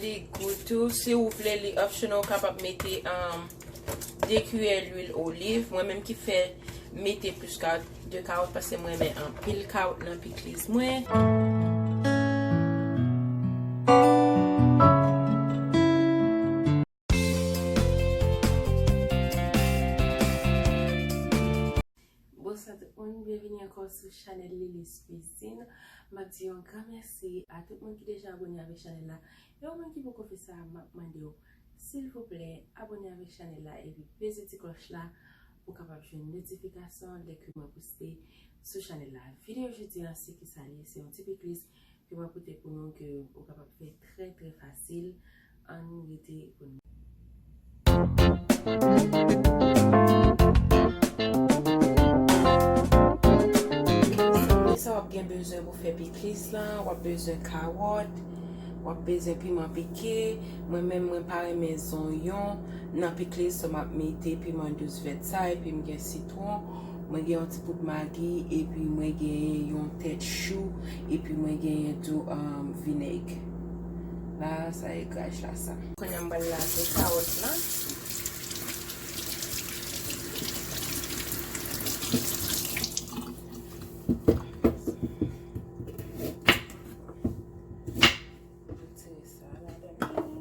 Li gou tou. Si ou vle li optional ou kapab mete 2 kiyè lwil oliv. Mwen menm ki fè mete plis ka 2 kawòt paske mwen renmen anpil kawòt nan pikliz mwen. Bonswa tout moun, byenvini ankò sou chanèl Lilis Cuisine. M ap di yon gran mèsi a tout moun ki deja abone avèk chanèl la. E ou menm ki poko fè sa, m ap mande w, silvouplè, abone avèk chanèl la epi peze ti klòch la pou w kapab jwenn notifikasyon lè ke mwen poste sou chanèl la. Videyo jodi a, se kisa l ye? Se yon ti pikliz Yo pral pote pou nou ke ou kapab fè trè trè fasil. Ann rete pou n. Premye sa wap gen bezwen pou fè piklis la, wap bezwen kawòt, wap bezwen piman pike, mwen menm mwen pa renmen zonyon nan piklis so map mete piman dous vèt sa epi m gen sitwon. Mwen gen yon ti poud magi epi mwen genyen yon tèt chou epi mwen genyen tou vinèg la sa e graj la sa. Kounye a m pral lave kawòt la. Retire sa ladan li.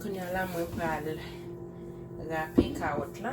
Kounye a la mwen pral rape kawòt la.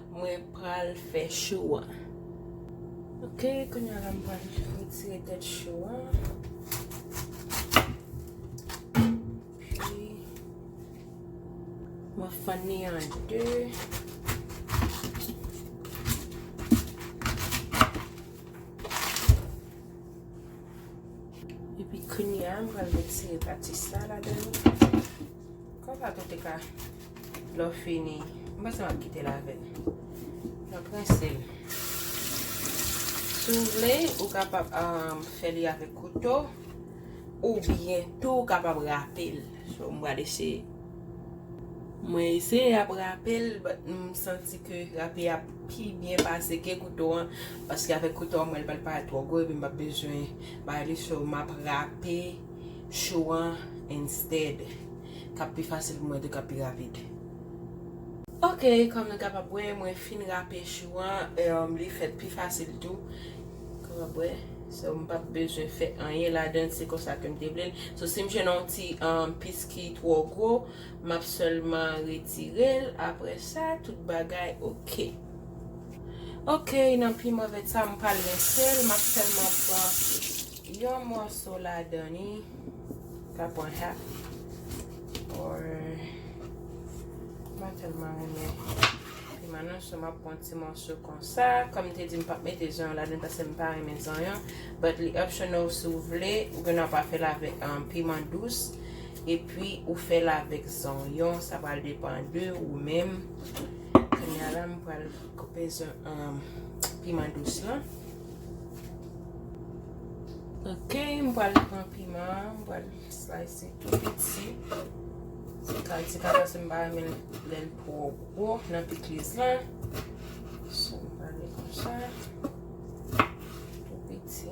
Mwen pral fè chou an. Ok, kounya la m pral retire tèt chou an. Pi, mwen fann ni an 2. Epi kounya, m pral retire pati sa la dan. Konpa tou te ka lò fini. M panse map kite l avè l. Map rense l. Si w vle ou kapab fè li avèk kouto ou byen tou kapab rape l. So m pral eseye. Mwen eseye ap rape l but m santi ke rape a pi byen pase ke kouto an paske avèk kouto an m wè l pral parèt twò gwo epi m pap bezwen bay li so map rape. show an instead. Kap pi fasil pou mwen tou kap pi rapid. Ok kòm nou kapab wè mwen fin rape show an li fèt pi fasil tou kapab wè so m pap bezwen fè anyen ladann se konsa kem te vlel so sim jwenn yon ti pis ki twò gwo map sèlman retirel aprè sa tout bagay ok. Ok nan pi move tsa m pral rinsel map sèlman pran Yon mòso ladan li ka pran half or mwen tèlman renmen piment nou so map pran ti mòso konsa kòm m te di m pap mete zonyon ladann pase m pa renmen zonyon but li optional si w vle ou gen dwa pa fè l avèk piment dous epi ou fè l avèk zonyon sa pral depan de ou menm kounya la m pral koupe piment dous lan. Ok, m pral pran piman an, m pral slice li tou piti. Se kalite sa paske m pa renmen lè l twò gwo nan pikliz la. So, m pral li kon sa. Tou piti.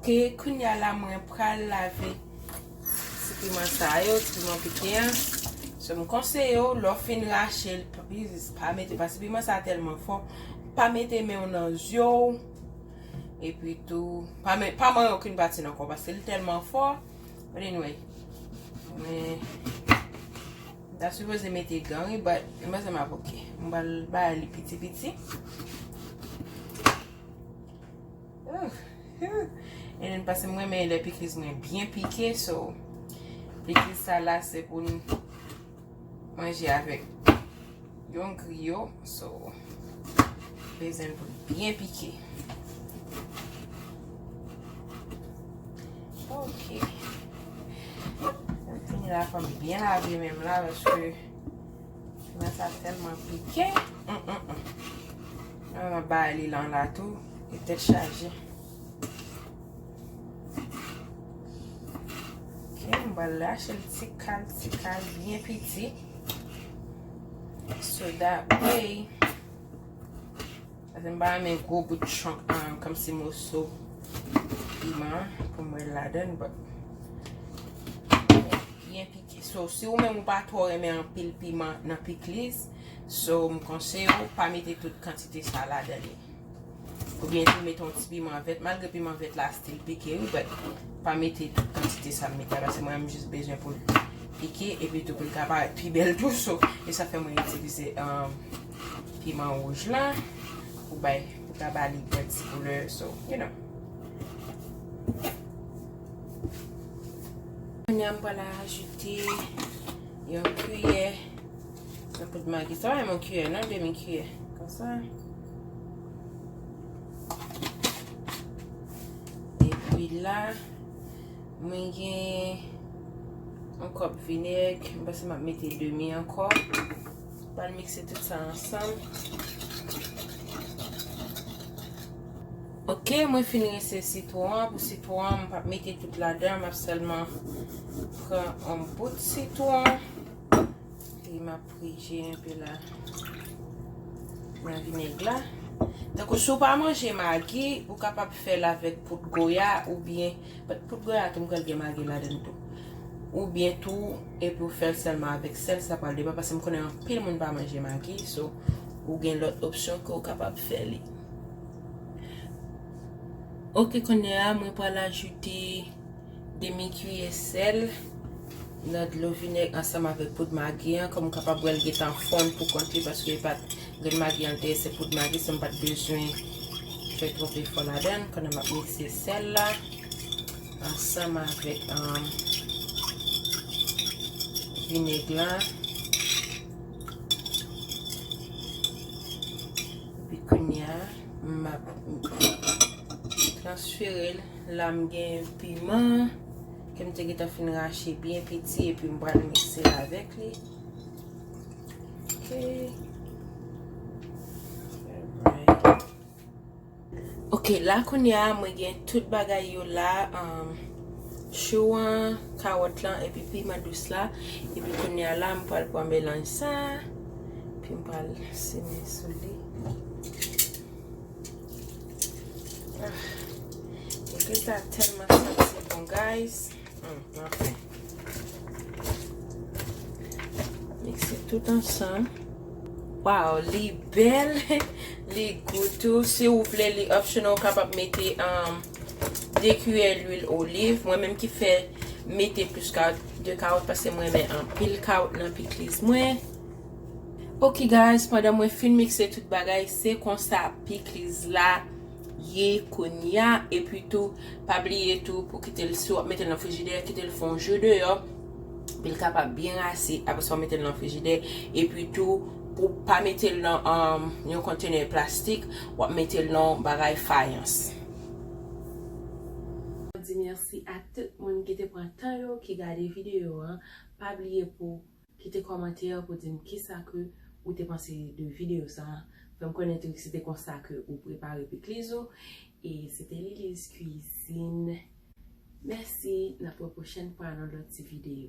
Ok kounya la mwen pral lave ti piman sa yo, ti piman pike an so m konseye w lè w fin rache l pliz pa mete paske piman sa tèlman fò pa mete men w nan zye w epi tou pa manyen okenn pati nan kò w paske l tèlman fò but anyway mwen m ta sipoze mete gan wi but m panse m ap ok m pral bay li piti piti. Enen pase mwen men le pikliz mwen byen pike so pikliz sa la se pou nou manje avek yon griyo so bezen pou byen pike ok mwen fini la fòm byen lave menm la vèche Nan sa telman pike. Nan nan ba li lan la tou. E tet chaje. Ok. M ba la chel ti kal ti kal. Bien piti. So that way. Ase m ba la men gwo bout chonk. Kom si moso. Piman. Pou m wè la den. Bien piti. So si ou menm ou pa twò renmen anpil piman nan pikliz, so m konseye ou pa mete tout kantite sa ladan li. Oubyen tou mete yon ti piman vèt, malgre piman vèt la stil pike wi but pa mete tout kantite sa m mete la paske mwen m jis bezwen pou l pike epi tou pou l ka parèt pi bèl tou so e sa fè mwen itilize piman wouj la pou bay pou ta ba li yon ti koulè so you know. Kounya m pral ajoute yon kiyè nan poud magi. Sa pa menm yon kiyè non, demi kiyè. Konsa. E pi la, mwen gen yon kòp vinèg. M panse m ap mete demi ankò. M pral mikse tout sa ansanm. Ok mwen fin rinse sitwon an pou sitwon an m pap mete tout ladan map sèlman pran on bout sitwon epi map prije enpe la nan vinèg la tankou si w pa manje magi ou kapab fè l avèk poud goya oubyen bat poud goya tou m kwè l gen magi ladan tou oubyen tou epi w fè l sèlman avèk sèl sa pral depan paske m konnen anpil moun pa manje magi so ou gen lòt opsyon ke w kapab fè li. Ok kounye a mwen pral ajoute demi kiyè sèl nan dlo vinèg ansanm avèk poud magi an kòm kapab wèl gentan fonn pou kont li paske li pat grenn magi an te se poud magi se m pat bezwen fè twòp efò ladan l pandan map mikse sèl la ansanm avèk vinèg la. Epi kounya map transferel la m gen piman kem te gentan fin rache byen piti epi m pral mixel avek li ok. Ok la kounye a mwen gen tout bagay yo la chou an kawòt lan epi piman dous la epi kounye a la mwen pral pran melanj sa. Epi m pral simen sou li. Egri sa telman santi bon guys. Anfen. Mikse tout ansan. Waw li bel. Li gou tou. Si ou vle li optional ou kapab mete. 2 kiyè lwil oliv, mwen menm ki fè mete plis kawòt, 2 kawòt paske mwen renmen anpil kawòt nan pikliz mwen. Ok guys, pandan mwen fin mikse tout bagay, se konsa pikliz la ye kounya, epi tou pa bliye tou pou kitel si wap metel nan frijidè kitel fè yon jou deyò poul kapab byen rase apre sa ou metel nan frijidè, epi tou pou pa metel nan yon kontenè plastik wap metel nan yon bagay fayans. Mwen di mèsi a tout moun ki te pran tan yo ki gade video an, pa bliye pou kite kòmantè pou dim kisa ke ou te panse de video sa, fèm konnen tou si te konsa ke ou prepare pikliz ou e se te Lili's cuisine mèsi nap wè pwochèn fwa nan lòt ti video.